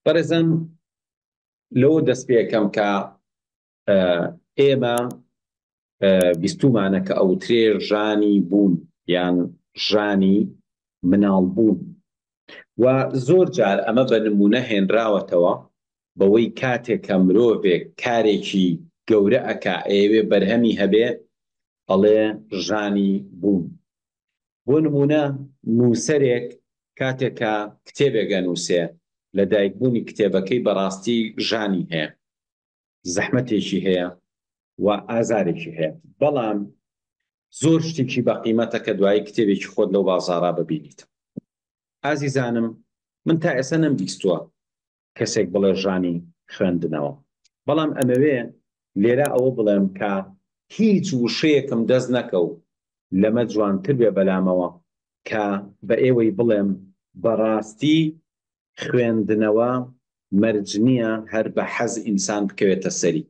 بەڕێزان لەوە دەست پێکەم کە ئێمە بیستومانە کە ئەوترێ ژانی بوون یان ژانی مناڵ بوون و زۆر جار ئەمە بە نمونە هێنراوەتەوە بەوەی کاتێک کە مرۆڤێک کارێکی گەورە ئەکا ئەوێ بەرهەمی هەبێ ئەڵێ ژانی بوون بۆ نموونە نووسەرێک کاتێک کە کتێبێک ئەنووسێ لە دایکبوونی کتێبەکەی بەڕاستی ژانی هەیە زەحمەتێکی هەیە و ئازارێکی هەیە بەڵام زۆر شتێکی بە قیمەتە کە دوایی کتێبێکی خۆت لەو بازارا ببینیت ئازیزانم من تا ئێستا نەم بیستووە کەسێک بڵێ ژانی خوێندنەوە بەڵام ئەمەوێ لێرە ئەوە بڵێم کە هیچ وشەیەکم دەست نەکەو لەمە جوانتر بێ بەلامەوە کە بە ئێوەی بڵێم بەڕاستی خوێندنەوە مەرج نیە هەر بە حەز ئینسان بکەوێتە سەری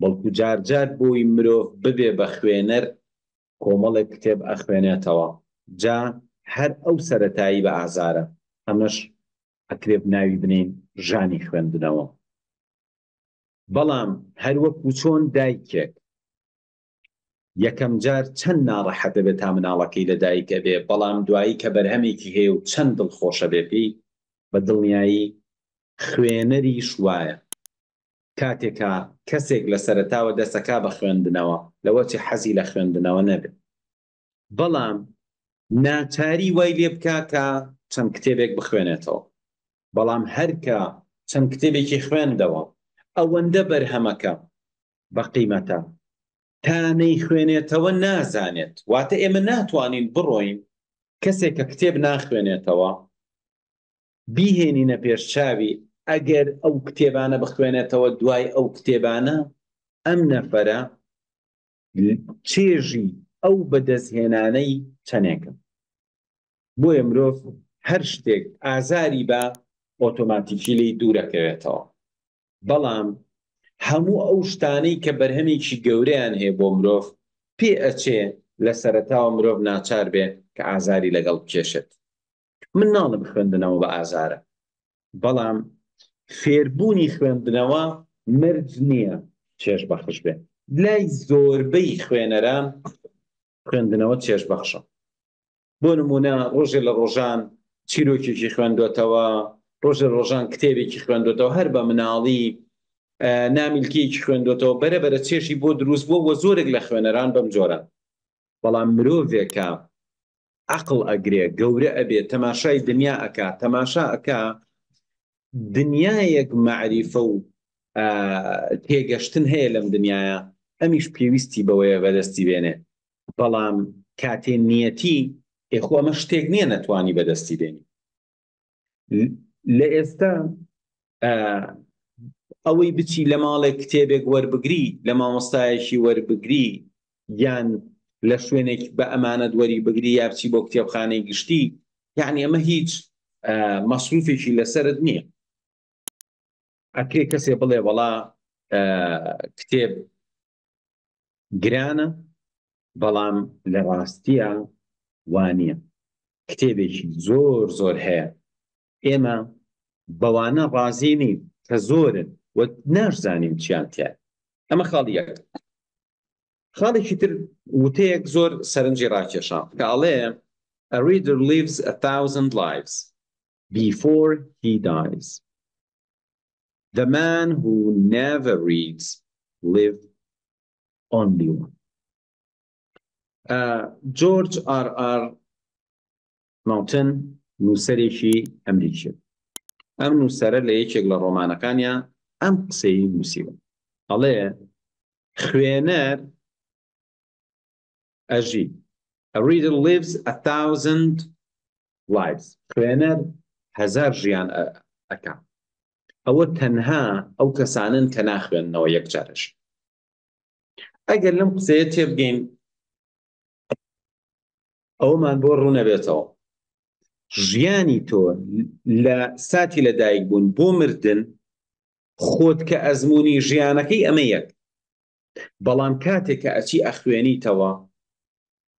بەڵکو جار جار بۆی مرۆڤ ببێ بە خوێنەر کۆمەڵێک کتێب ئەخوێنێتەوە جا هەر ئەو سەرەتایی بە ئازارە ئەمەش ئەکرێت ناوی بنێین ژانی خوێندنەوە بەڵام هەروەک و چۆن دایکێک یەکەم جار چەند ناڕەحەت دەبێت تا مناڵەکەی لە دایکە بێ بەڵام دوایی کە بەرهەمێکی هەیە و چەند دڵخۆشە بێ پێی بە دڵنیایی خوێنەریش وایە کاتێکا کەسێک لە سەرتاوە دەسەکا بە خوێندنەوە لەوەچی حەزی لە خوێندنەوە نەبێت بەڵام ناچاری وای لێ بکا کە چەند کتێبێک بخوێنێتەوە بەڵام هەرکە چەند کتێبێکی خوێندەوە ئەوەندە بەرهەمەکە بە قیمەتە تا نەیخوێنێتەوە نازانێت واتە ئێمە ناتوانین بڕۆین کەسێک کە کتێب ناخوێنێتەوە بیهێنینە پێش چاوی ئەگەر ئەو کتێبانە بخوێنێتەوە دوای ئەو کتێبانە ئەم نەفەرە چێژی ئەو بەدەستهێنانەی چەنێکە بۆیە مرۆڤ هەر شتێک ئازاری بە ئۆتۆماتیکی لی دوورەکەوێتەوە بەڵام هەموو ئەو شتانەی کە بەرهەمێکی گەورەیان هەیە بۆ مرۆڤ پێ ئەچێ لە سەرتاوە مرۆڤ ناچار بێ کە ئازاری لەگەڵ بکێشێت من ناڵم خوێندنەوە بە ئازارە بەڵام فێربوونی خوێندنەوە مەرج نییە چێژ بەخش بێ لای زۆربەی خوێنەران خوێندنەوە چێژ بەخشە بۆ نمونە ڕۆژێ لە ڕۆژان چیرۆکێکی خوێندوێتەوە ڕۆژە ڕۆژان کتێبێکی خوێندوێتەوە هەر بە مناڵی نامیلکیەکی خوێندوێتەوە بەرە بەرە چێشی بۆ دروست بۆ وە زۆرێک لە خوێنەران بەم جۆرە بەڵام مرۆڤێکە عەقڵ ئەگرێ گەورە ئەبێ تەماشای دنیا ئەکا تەماشا ئەکا دنیایەک مەعریفە و تێگەشتن هەیە لەم دنیاە ئەمیش پێویستی بەوەیە بەدەستی بێنێ بەڵام کاتێ نیەتی ئێخۆ ئەمە شتێک نییە نەتوانی بەدەستی بێنی لە ئێستا ئەوەی بچی لە ماڵێک کتێبێک وەربگری لە مامۆستایەکی وەربگری یان لە شوێنێک بە ئەمانەت وەری بگری یا بچی بۆ کتێبخانەی گشتی یعنی ئەمە هیچ مەسروفێکی لەسرت نییە ئەکرێ کەسێ بڵێ وەڵا کتێب گرانە بەڵام لە ڕاستیە وانە کتێبێکی زۆر زۆر هەیە ئێمە بەوانە ڕازی نین کە زۆرن و ناشزانین چیان تیا ئەمە خاڵی یەک خاڵێکی تر وتەیەک زۆر سەرنجی ڕاکێشان کە ئاڵێ A reader lives a thousand lives Before he dies The man who never reads live only one جۆرج ئار ئار ماوتن نووسەرێکی ئەمریکی ئەم نووسەرە لە یەکێک لە ڕۆمانەکانیان ئەم قسەی نووسیوە ئەڵێ خوێنەر ئەژی A reader lives a thousand lives خوێنەر هەزار ژیان ئەکا ئەوە تەنها ئەو کەسانن کە ناخوێنەوە یەک جارش ئەگەر لەم قسەیە تێبگەین ئەومان بۆ ڕوونەبێتەوە ژیانی تۆ لە ساتی لەدایک بوون بۆ مردن خۆت کە ئەزمموی ژیانەکەی ئەمە یەک بەڵام کاتێ کە ئەچی ئەخوێنیتەوە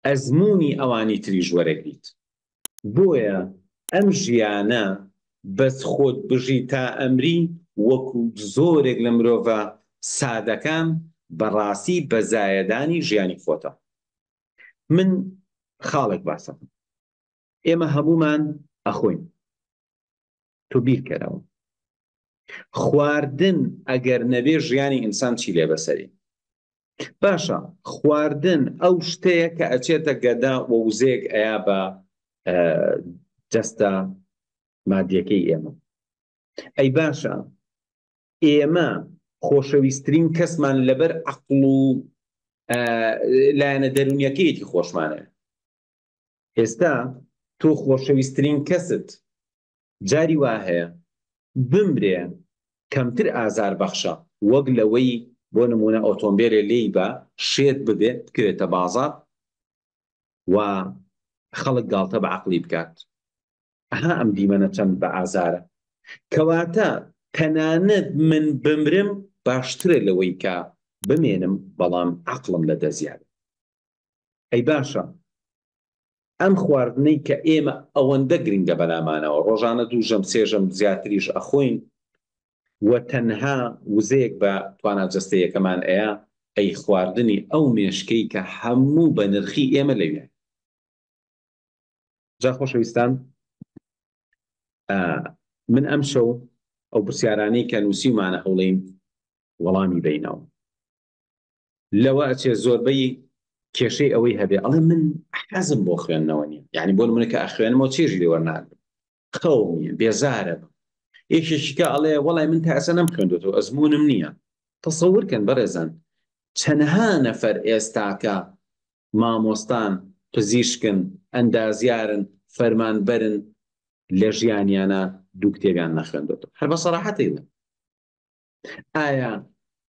ئەزموونی ئەوانی تریش وەرەگریت بۆیە ئەم ژیانە بەس خۆت بژی تا ئەمری وەکو زۆرێک لە مرۆڤە سادەکان بەڕاستی بە زایەدانی ژیانی خۆتە من خاڵێک باسەکەم ئێمە هەمومان ئەخۆین تۆ بیرکەرەوە خواردن ئەگەر نەبێ ژیانی ئینسان چی لێ بەسەری باشە خواردن ئەو شتەیە کە ئەچێتە گەدا وە وزێک ئەیا بە جەستە مادیەکەی ئێمە ئەی باشە ئێمە خۆشەویستترین کەسمان لەبەر عقل و لایەنە دەرونیەکەیەتی خۆشمانە ئێستا تۆ خۆشەویسترین کەست جاری وا هەیە بمرێ کەمتر ئازار بەخشە وەک لەوەی بۆ نموونە ئۆتۆمبێلێ لێی بە شێت ببێ بکرێتە بازاڕ و خەڵک گاڵتە بە عەقڵی بکات ئەها ئەم دیمەنە چەند بە ئازارە کەواتە تەنانەت من بمرم باشترە لەوەی کە بمێنم بەڵام عقلم لە دەزیاد ئەی باشە ئەم خواردنەی کە ئێمە ئەوەندە گرنگە بەلامانەوە ڕۆژانە دوو ژەم سێ ژەم زیاتریش ئەخۆین و تەنها وزەیەک بە توانا جەستەیەکەمان ئەیە ئەی خواردنی ئەو مێشکەی کە هەموو بە نرخی ئێمە لەوێ جا خۆشەویستان من ئەم شەو ئەو پرسیارانەی کە نووسیمانە هەوڵین وەڵامی بینەوە لەوە ئەچێ زۆربەی کێشەی ئەوەی هەبێ ئەڵێ من حەزم بۆ خوێندنەوە نیە یعنی بۆ منە کە ئەخوێنمەوە چێژ لێ وەرناگرم خەو نیە بێزارە یەکێکیکە ئەڵێ وەڵای من تا ئەسە نەم خوێندێتەوە ئەزمونم نییە تەسەورکەن بەڕێزان چەنها نەفەر ئێستاکە مامۆستان پزیشکن ئەندازیارن فەرمانبەرن لە ژیانیانە دوو کتێبیان نەخوێندێتەوە هەر بە سەراحەتی ئایا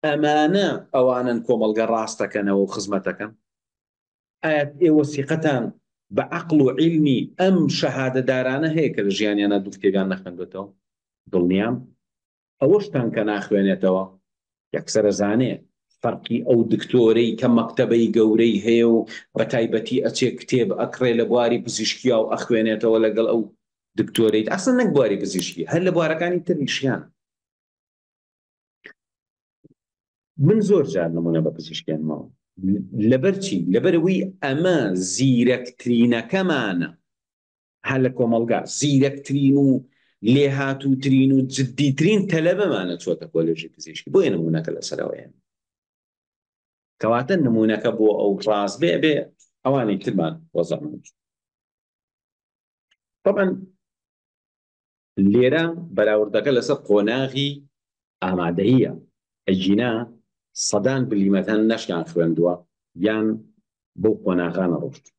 ئەمانە ئەوانەن کۆمەڵگە ڕاستەکەنەوە و خزمەتەکەن ئایا ئێوە سیقەتان بە عقل و عیلمی ئەم شەهادەدارانە هەیە کە لە ژیانیانە دوو کتێبیان نەخندێتەوە دڵنیام ئەوەشتان کە ناخوێنێتەوە یەکسرە زانێ فەرقی ئەو دکتۆرەی کە مەکتتەبەی گەورەی هەیە و بە تایبەتی ئەچێ کتێب ئەکڕێ لە بواری پزیشکیا و ئەخوێنێتەوە لەگەڵ ئەو دکتۆریت ئەسن نەک بواری پزیشکی هەر لە بوارەکانی تریشیان من زۆر جار نمونە بە پزیشکێنمەوە لەبەرچی لەبەرەوەی ئەمە زیرەکترینەکەمانە هە لە کۆمەلگا زیرەکترین و لێهاتووترین و جددیترین تەلەبەمانە چۆتە کۆلێژی پزیشکی بۆیە نمونونەکە لە سەرەوەیان کەواتە نمونونەکە بۆ ئەو ڕاست بێ بێ ئەوانی ترمان وەزەمان طبعا لێرە بەراوردەکە لەسەر قۆناغی ئامادەییە، ئەگینا سەدان بلیمەتان نەشیان خوێندووە یان بەو قۆناغە نەڕۆشتوون.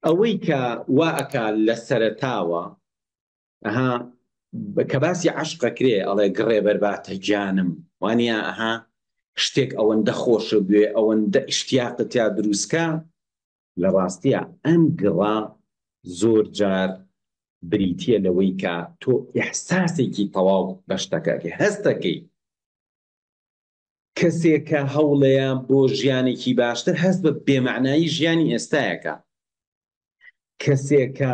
ئەوەی کە وا ئەکا لە سەرەتاوە ئەها کە باسی عەشق ئەکرێ ئەڵێ گڕێ بەرباتە گیانم، وا نییە ئەها شتێک ئەوەندە خۆش بوێ، ئەوەندە ئیشتیاقت تیا دروست کا، لە ڕاستیا ئەم گڕە زۆر جار بریتییە لەوەی کە تۆ ئیحساسێکی تەواو بە شتەکە ئەکەی، هەست دەکەی کەسێک کە هەوڵێیە بۆ ژیانێکی باشتر هەست بە بێمەعنایی ژیانی ئێستایەکە کەسێکە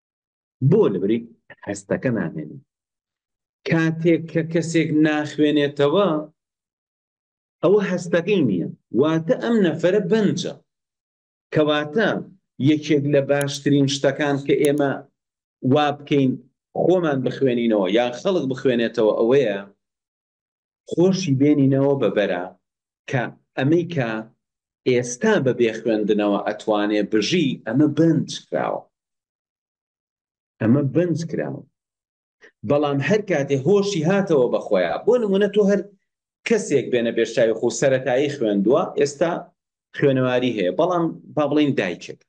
بۆ لەبری هەستەکە نامێنی کاتێک کە کەسێک ناخوێنێتەوە ئەوە هەستەکەی نییە واتە ئەم نەفرە بەنجە کەواتە یەکێک لە باشترین شتەکان کە ئێمە وا بکەین خۆمان بخوێنینەوە یان خەڵک بخوێنێتەوە ئەوەیە خۆشی بێنینەوە بە بەرا کە ئەمەی کە ئێستا بە بێ خوێندنەوە ئەتوانێ بژی ئەمە بەنج کراوە ئەمە بەنج کراوە بەڵام هەر کاتێ هۆشی هاتەوە بەخۆیە بۆ نمونە تۆ هەر کەسێک بێنە بێشتاوی خو سەتایی خوێندووە ئێستا خوێنەواری هەیە بەڵام با بڵین دایکێک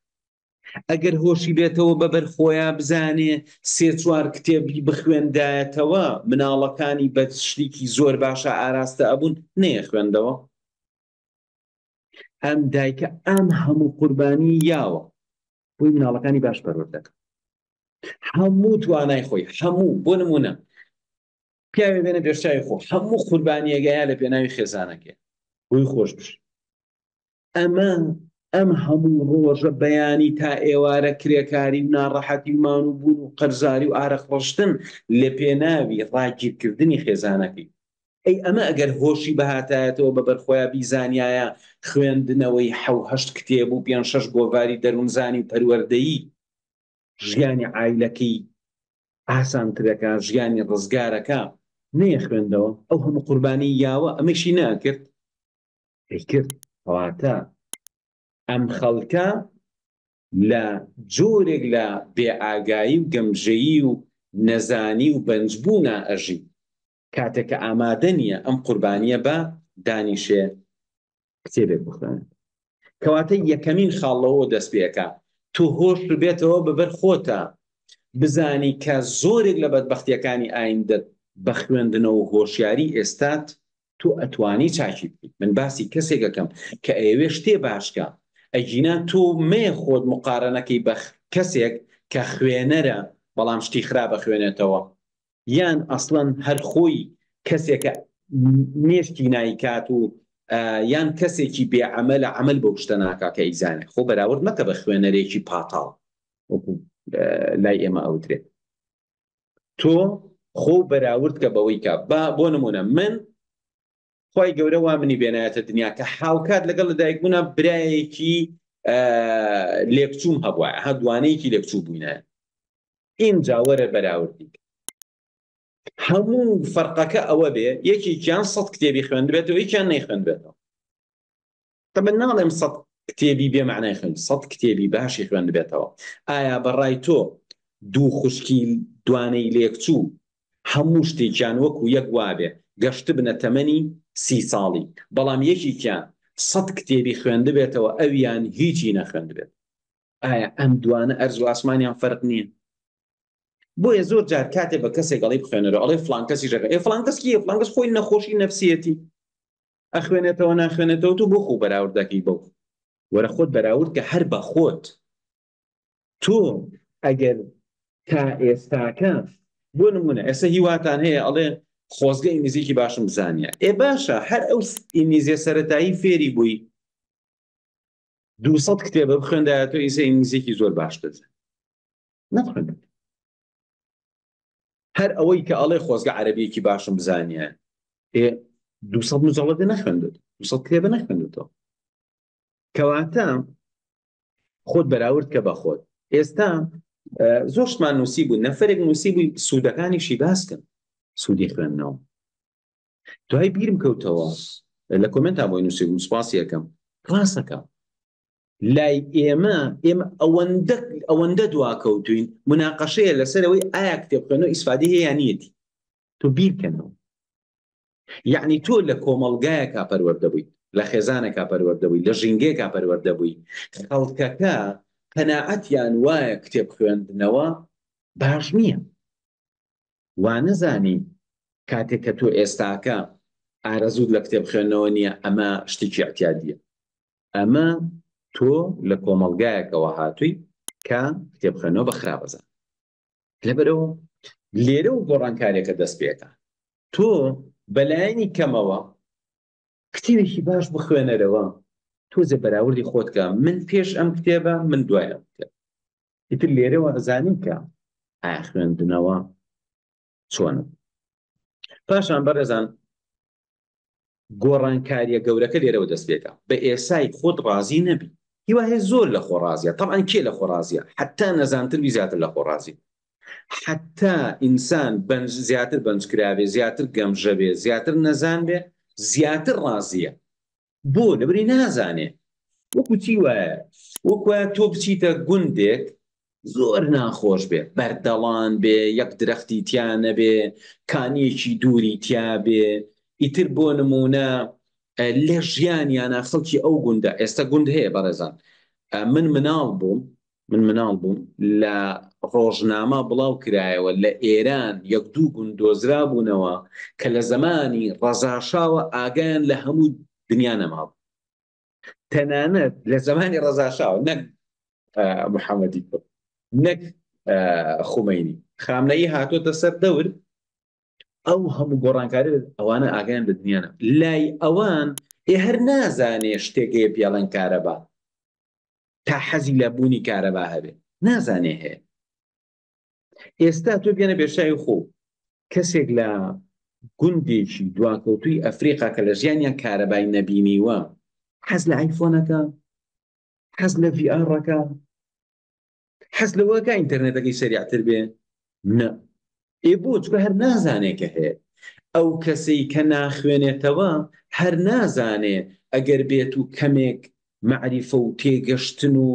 ئەگەر هۆشی بێتەوە بە بەر خۆیا بزانێ سێ چوار کتێبی بخوێندایەتەوە مناڵەکانی بە شتێکی زۆر باشە ئاراستە ئەبوون نەیە خوێندەوە ئەم دایکە ئەم هەموو قوربانی یاوە بۆی مناڵەکانی باش پەرۆر دەکەن هەموو توانای خۆی هەموو بۆ نمونە پیاوێ بێنە پێشچوی خۆ هەموو قوربانیەگەیە لە پێناوی خێزانەکە بۆی خۆش بش ئەمە ئەم هەموو ڕۆژە بەیانی تا ئێوارە کرێکاری و ناڕەحەتی و مان و بوون و قەرزاری و ئارەق ڕشتن لە پێناوی ڕاگیر کردنی خێزانەکەی. ئەی ئەمە ئەگەر هۆشی بهاتایەتەوە بە بەرخۆیا بیزانیایە خوێندنەوەی حەو هەشت کتێب و پێنج شەش گۆڤاری دەروونزانی و پەروەردەیی ژیانی عایلەکەی ئاسانتر ئەکا ژیانی ڕزگار ئەکا نەیەخوێندەوە ئەو هەموو قوربانی یاوە ئەمەیشی نەئەکرد؟ ئەیکرد کەواتە ئەم خەڵکە لە جۆرێک لە بێ ئاگایی و گەمژەیی و نەزانی و بەنج بوونا ئەژی کاتێک کە ئامادە نیە ئەم قوربانیە بە دانیشێ کتێبێک بخوێنێت کەواتە یەکەمین خاڵ لەوە دەست پێ ئەکا تۆ هۆش بێتەوە بە بەر خۆتە بزانی کە زۆرێک لە بەدبەختیەکانی ئایندەت بە خوێندنەوە هۆشیاری ئێستات تۆ ئەتوانی چاکی بکەی من باسی کەسێک ئەکەم کە ئەیەوێ شتێ باش کا ئەگینا تۆ مەیە خۆت مقارەنەکەی بە کەسێک کە خوێنەرە بەڵام شتی خراپ ئەخوێنێتەوە یان ئەسڵەن هەر خۆی کەسێکە مێشکی نایکات و یان کەسێکی بێ عملە عمل بۆ شتە ناکا کە ئیزانێ خۆ بەراورد مەکە بە خوێنەرێکی پاتاڵ لای ئێمە ئەوترێت تۆ خۆ بەراورد کە بەوەی کە با بۆ نمونە من خی گەورە وا منی بێنایەتە دنیا کە حاوکات لەگەڵ لە دایک بوونا برایەکی لێکچوم هەبووە هە دوانەیەکی لێکچوو بووینە ئینجا وەرە بەراوردی هەموو فەرقەکە ئەوە بێ یەکێکیان سەد کتێبی خوێندبێتەوە یکیان نەی خوێندبێتەوە من ناڵێم سەد کتێبی بێ مەعنای خوێند سەد کتێبی باشی خوێندبێتەوە ئایا بەڕای تۆ دوو خوشکی دوانەی لێکچوو هەموو شتێکیان وەکو یەک وابێ گەشتبنە تەمەنی سی ساڵی بەڵام یەکیکیان سەد کتێبی خوێندبێتەوە ئەویان هیچی نەخوێندبێت ئایا ئەم دوانە ئەرز و ئاسمانیان فەرق نییە بۆیە زۆر جار کاتێ بە کەسێک گەڵی بخوێنەرە ئەڵێ فلانکەسی ژەکە ئێ فلانکەسکی فلانکەس خۆی نەخۆشی نفسیەتی ئەخوێنێتەوە ناخوێنێتەوە تۆ بۆ خۆ بەراورد دەکەی بەو وەرە خۆت بەراورد کە هەر بە خۆت تۆ ئەگەر تا ئێستاکە بۆ نمونە ئێستا هیواتان هەیە ئەڵێ خۆزگە ئینگلیزیکی باشم زانیە ئێ باشە هەر ئەو ئینگلیزیە سەتایی فێری بووی دوسەد کتێبە بخوێندایە تۆ ئیسە ئینگلیزیکی زۆر باشتر نەخوێن هەر ئەوەی کە ئەڵێ خۆزگە عەرەبیەکی باشم بزانیان ئێ دو سەد مجەڵەدە نەخوێندت دو سەد کتێبە نەخوێندتەوە کەواتە خۆت بەراورد کە بە خۆت ئێستا زۆر شتمان نووسی بوو نەفرێک نووسی بووی سوودەکانیشی باسکن سوودی خوێندنەوە دوای بیرم کەوتەوە لە کۆمنتا بۆی نووسی بووم سپاسی یەکەم ڕاستەکە لای ئێمە ئێمە ئەوەندە ئەوەندە دواکەوتوین مناقەشەیە لەسەرەوەی ئایا کتێبخوێنەوە ئیسفادی هەیە یان نیەتی تۆ بیرکەنەوە یعنی تۆ لە کۆمەڵگایەکا پەروەردە بوویت لە خێزانەکە پەروەردە بووی لە ژینگەیەکا پەروەردە بووی خەڵکەکە قەناعەتیان وایە کتێب خوێندنەوە باش نییە وانەزانی کاتێک کە تۆ ئێستاکە ئارەزووت لە کتێب خوێندنەوە نییە ئەمە شتێکی ئەتیادیە ئەمە تۆ لە کۆمەلگایەکەوە هاتووی کە کتێب خوێنەوە بە خراپەزان لەبەرەوە لێرە و گۆڕانکارێکە دەست پێەکە تۆ بەلایەنی کەمەوە کتێبێکی باش بخوێنەرەوە تۆزێ بەراوردی خۆتکە من پێش ئەم کتێبە من دوایە بکە ئیتر لێرەوە ئەزانین کە ئایا خوێندنەوە چۆن پاشان بەڕێزان گۆڕانکاریە گەورەکە لێرەوە دەست پێکە بە ئێسای خۆت ڕازی نەبی هیواهەیە زۆر لە خۆڕازیە تەعاان کێ لە خۆڕازیە حتا نەزانتر وی زیاتر لە خۆڕازی حەتتا ئینسان بەنج زیاتر بەنج کرابێ زیاتر گەمژە بێ زیاتر نەزان بێ زیاتر ڕازیە بۆ لەبری نازانێ وەکو چی وایە وەکوە تۆ بچیتە گوندێک زۆر ناخۆش بێ بەردەڵان بێ یەک درەختی تیانە بێ کانیەکی دووری تیا بێ ئیتر بۆ نمونە لە ژیانیانە خەڵکی ئەو گوندە ئێستا گوند هەیە بەڕێزان من مناڵ بووم من مناڵ بووم لە ڕۆژنامە بڵاو کرایەوە لە ئێران یەک دوو گوند دۆزرابوونەوە کە لە زەمانی ڕەزاشاوە ئاگایان لە هەموو دنیا نەمابوو تەنانەت لە زەمانی ڕەزاشاوە نەک محەممەدی کوڕ نەک خومەینی خامنەیی هاتۆتە سەر دەور ئەو هەموو گۆڕانکاری ئەوانە ئاگیان لە دنیاە لای ئەوان ئێ هەر نازانێ شتێکەیە پیاڵەن کارەبا تا حەزی لە بوونی کارەبا هەبێ نازانێ هەیە ئێستا تۆ بێنە بێشایی خۆ کەسێک لە گوندێکی دواکەوتوی ئەفریقا کە لە ژیانیان کارەبای نەبینیوە حەز لە ئایفۆنەکە حەز لە ڤڕەکە حەز لەوەکە ئینتەرنێتەکەی سەریعتر بێ نە ئێ بۆ چکە هەر نازانێ کە هەیە ئەو کەسەی کە ناخوێنێتەوە هەر نازانێ ئەگەر بێت و کەمێک مەعریفە و تێگەشتن و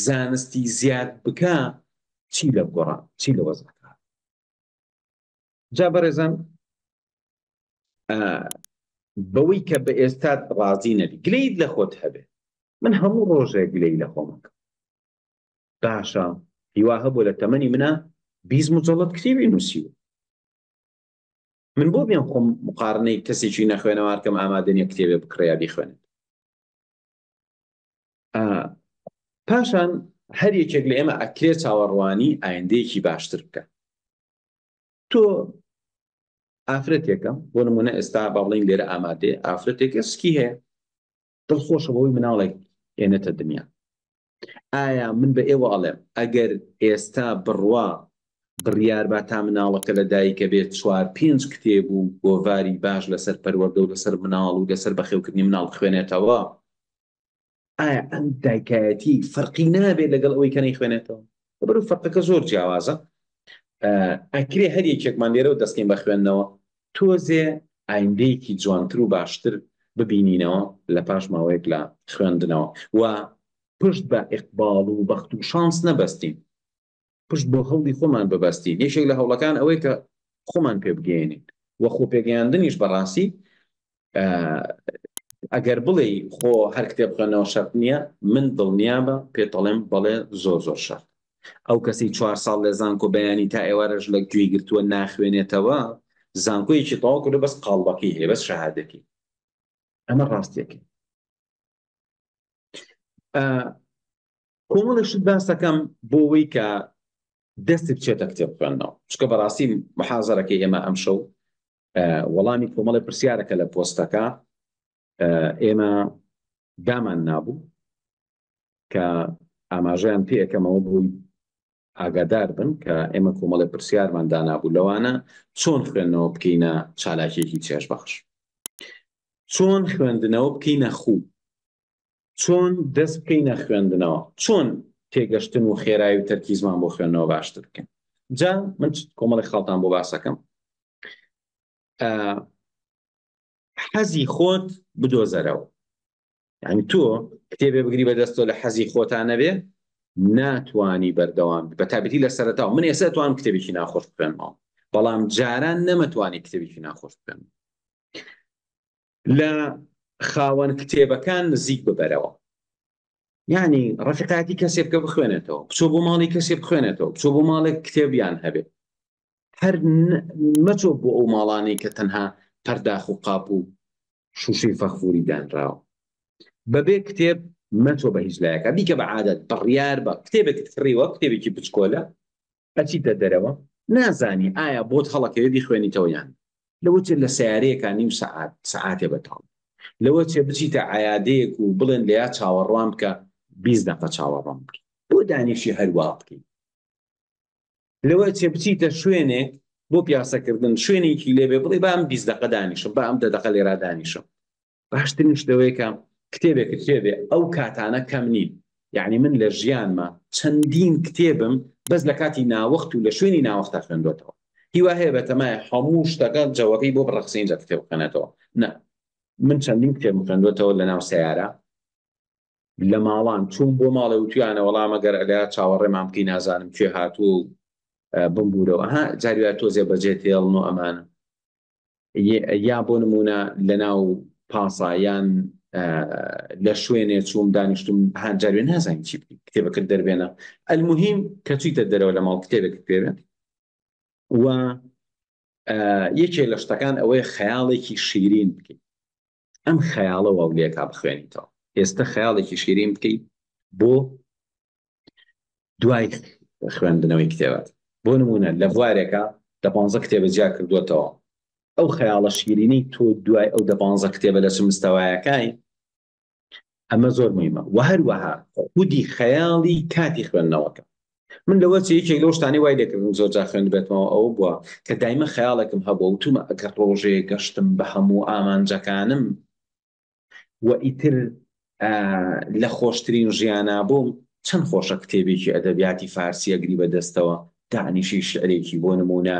زانستی زیاد بکا چی لە گۆڕا چی لە وەز بکا جا بەڕێزان بەوەی کە بە ئێستا ڕازی نەبی گلیت لە خۆت هەبێ من هەموو ڕۆژێک گلەی لە خۆمەکە باشە هیوا هەبوو لە تەمەنی منە بیست مجەڵت کتێبی نووسیوە من بۆ بێن خۆم مقارنەی کەسێکی نەخوێنەوارکەم ئامادەنیە کتێبێ بکڕێیا بیخوێنێت پاشان هەر یەکێک لە ئێمە ئەکرێ چاوەڕوانی ئایندەیەکی باشتر بکە تۆ ئافرەتێکە بۆ نمونە ئێستا باڵین لێرە ئامادێ ئافرەتێکە سکی هەیە دڵ خۆشە بەوەی مناڵێک ئێنێتە دنیا ئایا من بە ئێوە ئەڵێم ئەگەر ئێستا بڕوا بڕیار با تا مناڵەکە لە دایکە بێت چوار پێنج کتێب و گۆڤاری باش لەسەر پەروەردە و لەسەر مناڵ و لەسەر بەخێوکردنی مناڵ بخوێنێتەوە ئایا ئەم دایکایەتی فەرقی نابێت لەگەڵ ئەوەی کە نەیخوێنێتەوە وەرە فەرقەکە زۆر جیاوازە ئەکرێ هەر یەکێکمان لێرەوە دەستکەین بە خوێندنەوە تۆزێ ئایندەیەکی جوانتر و باشتر ببینینەوە لە پاش ماوەیەک لە خوێندنەوە و پشت بە ئقباڵ و بەخت و شانس نەبەستین پشت بۆ هەوڵی خۆمان ببەستین یەکێک لە هەوڵەکان ئەوەی کە خۆمان پێ بگەێنین وە خۆ پێگەیاندنیش بەڕاستی ئەگەر بڵێ خۆ هەر کتێب خوێنەوە شەرت نییە من دڵنیابە پێتەڵێم بەڵێ زۆر زۆر شەرت ئەو کەسی چوار ساڵ لە زانکۆ بەیانی تا ئێوارەش لە گوێی گرتووە ناخوێنێتەوە زانکۆیەکی تەواو کردو بەس قاڵبەکەی هەیە بەس شەهادەکی ئەمە ڕاستیەکە کۆمەڵێشت باسەکەم بۆەوەی کە دەستت چێتە کتێب خوێندنەوە چکە بەڕاستی محازەرەکەی ئێمە ئەمشەو وەڵامی کۆمەڵی پرسیارەکە لە پۆستەکە ئێمە دامان نابوو کە ئاماژیان پێەکەمەوە بووی ئاگادار بن کە ئێمە کۆمەڵی پرسیارمان دانابوو لەوانە چۆن خوێندنەوە بکەینە چالاکیەکی چێش بەخش چۆن خوێندنەوە بکەینە خوو چۆن دەست بکەینە خوێندنەوە؟ چۆن تێگەشتن و خێرای و تەرکیزمان بۆ خوێندنەوە باشتر بکەین؟ جا من کۆمەڵی خاڵتان بۆ باسەکەم. حەزی خۆت بدۆزەرەوە. یعنی تۆ کتێبێ بگری بەدەستۆ لە حەزی خۆتانەبێ ناتوانی بەردەوام بە تابەتی لە سەرەتاو من ئێستا توان کتێبێکی ناخۆش بخێنمەوە بەڵام جاران نەمەتوانی کتێبێکی ناخۆش بخێن لە خاوەن کتێبەکان نزیک ببەرەوە یعنی ڕفقاتی کەسێ بکە بخوێنێتەوە بچۆ بۆ ماڵی کەسێ بخوێنێتەوە بچۆ بۆ ماڵێک کتێبیان هەبێت هەر مەچۆ بۆ ئەو ماڵانی کە تەنها پەرداخ و قاپ و شوشەی فەخفوری دانراوە بەبێ کتێب مەچۆ بە هیچ لایەکە بیکە بە عادەت بڕیار بە کتێبێکت کڕیوە کتێبێکی بچکۆلە ئەچیتە دەرەوە نازانی ئایا بۆت هەڵەکەوێ بیخوێنیتەوە یان نا لەوەچێ لە سەیارەیەکا نیو سەعات سەعاتێ بەتاڵ لەوەچێ بچیتە عەیادەیەک و بڵێن لەیا چاوەڕوان بکە بیست دەقە چاوەڕوان بکەی بۆ دانیشی هەروا بکەی لەوەچێ بچیتە شوێنێک بۆ پیاسەکردن شوێنێکی لێبێ بڵێی با ئەم بیست دەقە دانیشم با ئەم دە دەقە لێرا دانیشم باشترین شت ئەوەیە کە کتێبێکت پێ بێ، ئەو کاتانە کەم نین، یەعنی من لە ژیانما چەندین کتێبم بەس لە کاتی ناوەخت و لە شوێنی ناوەختدا خوێندۆتەوە، هیوا هەیە بەتەمایە هەموو شتەکە جەوەکەی بۆ بڕەخسێ ئینجا کتێب بخوێنێتەوە، نا من چەندین کتێبم خوێندۆتەوە لەناو سەیارە، لە ماڵان چووم بۆ ماڵێ وتویانە وەڵا مەگەر ئەلێ چاوەڕێمان بکەی نازانم کێ هاتووە و بمبوورەوە، ئەها جاری وایە تۆزێ بەجێت هێڵن و ئەمانە. یا بۆ نمونە لەناو پاسا یان لە شوێنێ چووم دانیشتم هەجارێ نازانین چی کتێبەکە دەربێنە ئەلمهم کەچیتە دەرەوە لە ماڵ کتێبێک پێوێت و یەکێ لە شتەکان ئەوەیە خەیاڵێکی شیرین بکەیت ئەم خەیاڵە واو لێکا بخوێنیتەوە ئێستە خەیاڵێکی شیرین بکەی بۆ دوای خوێندنەوەی کتێبات بۆ نمونە لە بوارێکە دە پانزە کتێبە جیا کردوتەوە ئەو خەیاڵە شیرینەی تۆ دوای ئەو دە پانزە کتێبە لە چ مستەوایەکانی ئەمە زۆر مهمە و هەروەها خودی خەیاڵی کاتی خوێندنەوەکە من لەوە یەکێک لەو شتانی وای لەکردم زۆر جا خوێن بێتمەوە ئەو بووە کە دایمە خەیاڵێکم هەبوو وتومە ئەگەر ڕۆژێ گەشتم بە هەموو ئامانجەکانم و ئیتر لە خۆشترین ژیانە بووم چەند خۆشە کتێبێکی ئەدەبیاتی فارسی ئەگری بەدەستەوە دانیشی شعرێکی بۆ نمونە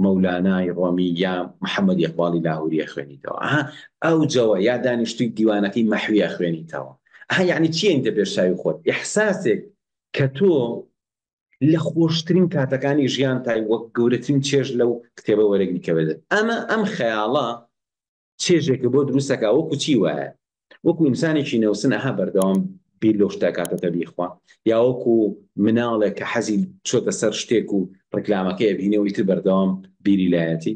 مەولانای ڕۆمی یا محەمەدی ئەقباڵی لاهوری ئەخوێنیتەوە ئەها ئەوجەوە یا دانیشتووی دیوانەکەی مەحوی ئەخوێنیتەوە ئەها یەعنی چییە ئینجا پێش چاوی خۆت ئیحساسێک کە تۆ لە خۆشترین کاتەکانی ژیانتای وەک گەورەترین چێژ لەو کتێبە وەرەگری کە بێت ئەمە ئەم خەیاڵە چێژێکە بۆ دروستەکە وەکو چی وایە وەکو ئینسانێکی نەوسن ئەها بەردەوام بیر لەو شتەکاتەکە بیخوا یاوەکو مناڵێک کە حەزی چۆتە سەر شتێک و ڕکلامەکە بینەوەی تر بەردەوام بیری لایەتی